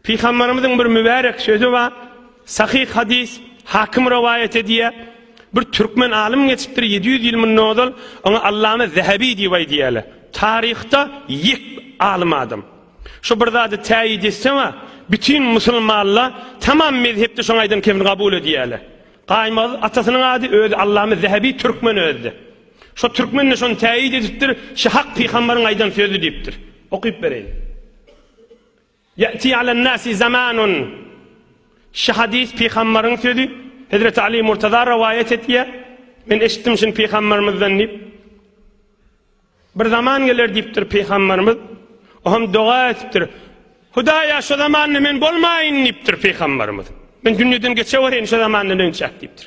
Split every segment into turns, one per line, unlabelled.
Pygamberimiziň bir mübärek sözi bar. Sahyh hadis, Hakim rowaýat edýär. Bir türkmen alym geçipdir 700 ýyl mundan ozal, oňa Allama Zehebi diýip aýdýarlar. Taryhda ýek alym adam. Şu bir zady täýit etse we bütin musulmanlar tamam mezhepde şoň aýdan kemini kabul edýärler. Gaýmaz atasynyň ady özi Allama Zehebi türkmen özde. Şu türkmen de şony täýit edipdir, şu hak pygamberiň aýdan sözi diýipdir. Okyp bereýin. Ýa'ti alan-nasi zamanun Şu hadys pygambaryň sözi, Hezreti Ali Murtaza rowaýat etýär, Men eşitdim şuny pygambarymyzdan diýip. Bir zaman geler diýipdir pygambarymyz. O hem doga etipdir. Hudaýa şu zamanda men bolmaýyn diýipdir pygambarymyz. Men dünýeden geçewerin şu zamanda dönçäk diýipdir.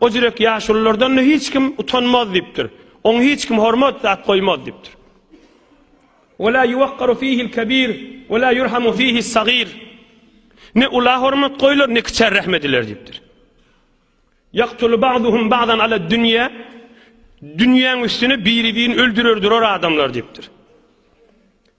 O jürek ýaşululardan-da hiç kim utanmaz diýipdir. Oňa hiç kim hormat at goýmaz diýipdir. Ve la yuwakkaru fihi'l kebir ve la yurhamu fihi's sagir. Ne ula hormat goýlar, ne kiçä rahm ediler diýipdir. Yaqtulu ba'duhum ba'dan ala dünýä. Dünýäň üstüne biri-birini öldürerdir o adamlar diýipdir.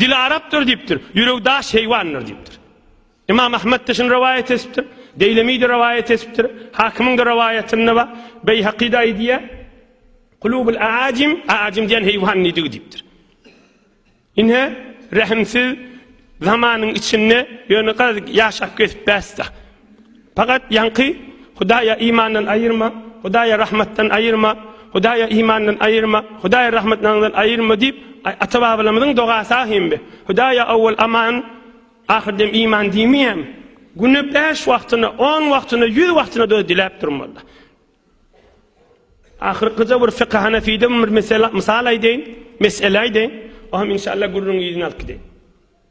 Dili arapdyr diýipdir, ýüregi daş heýwandyr diýipdir. Imam Ahmet-de şuny rowaýat etipdir, Deýlemi-de rowaýat etipdir, Hakymyň-da rowaýatynda bar, Beýhaky-da aýdýar, Kulubul aajim, aajim diýen heýwan nidigi diýipdir. Ine, rehimsiz zamanyň içinde ýöne garaz ýaşap gezip bäsda. Fakat yaňky Hudaýa imandan aýyrma, Hudaýa rahmatdan aýyrma, Hudaýa imandan aýyrma, Hudaýa rahmatdan aýyrma diýip ata-babalarymyzyň dogasy ahimbi. Hudaýa awwal aman, ahyrdem iman diýmeýämi? Güne 5 wagtyna, 10 wagtyna, 100 wagtyna da diläp durmaly. Ahyrkyja bir fıkh hanefide bir mesele misal aýdaýyn, mesele aýdaýyn. O hem inşallah gürrüň ýüzüne alyp gideýin.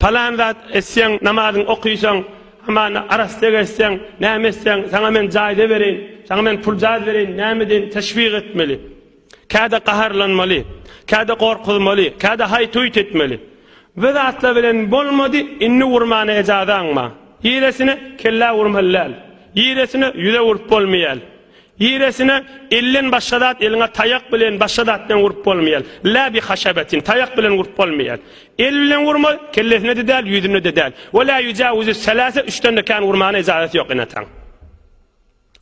Palan zat etseň, namazyňy okysaň, hamana arassa gezseň, näme etseň, saňa men jaýda bereýin, saňa men puljaz bereýin, näme edin, teşwik etmeli. Käde gaharlanmaly, käde gorkuzmaly, käde haýt-huýt etmeli. Bu zatlar bilen bolmady, indi urmana ejazaň bar. Ýeresine kellä urmaly däl. Ýeresine ýüze urup bolmaýar. Giresine elden başga zat eliňe taýak bilen başga zat bilen urup bolmaýar. La bi haşabetin taýak bilen urup bolmaýar. El bilen urma kellesine de däl ýüzüne de däl. Ve la yujawizu selase üçden de kän urmana ijazat ýok ene ataň.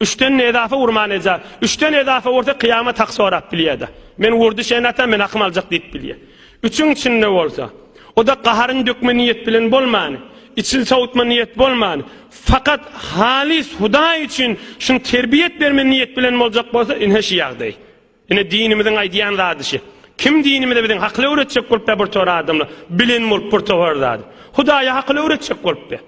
Üçden ne ezafa urmana ijazat. Üçden ezafa ursa kıyamet hak sorap bilýär de. Men urdy şeýle ata men akym aljak diýip bilýär. Üçüň içinde bolsa, o-da gaharyn dökme niýet bilen bolman, içini sowutma niýet bolman, fakat halys Hudaý üçin şuny terbiýet berme niýet bilen boljak bolsa, ine şu ýagdaý. Ine dinimiziň aýdýan zady şu. Kim dinimizde biziň hakyly öwretjek bolupda bir tor adamlar, bilen bolup bir toar zady. Hudaýa hakyly öwretjek bolupdy.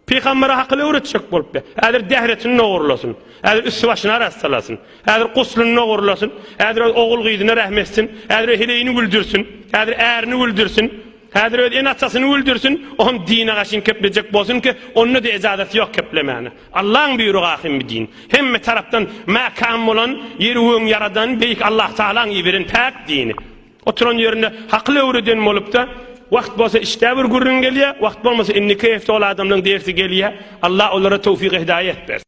Pygambere hakyl öwretjek bolupdy. Häzir dehretini nogurlasyn. Häzir üsti-başyny arassalasyn. Häzir guslyny nogurlasyn. Häzir öz ogul-gyzyna rehm etsin. Häzir öz heleýini güldürsin. Häzir ärini güldürsin. Häzir öz ene-atasyny güldürsin. Oňam dine gaşyn keplejek bolsun ki, onda-da ejazaty ýok keplemäne. Allaň buýrugy ahym bi din. Hemme tarapdan mäkäm bolan, ýeri öň ýaradan Beýik Allahtagalaň iberen päk dini. Oturan ýerinde hakyl öwreden bolupda wagt bolsa işdä bir gürrüň gelýä wagt bolmasa indiki hepde ol adamlaň dersi gelýä Alla olara towfyk hidaýet bersin.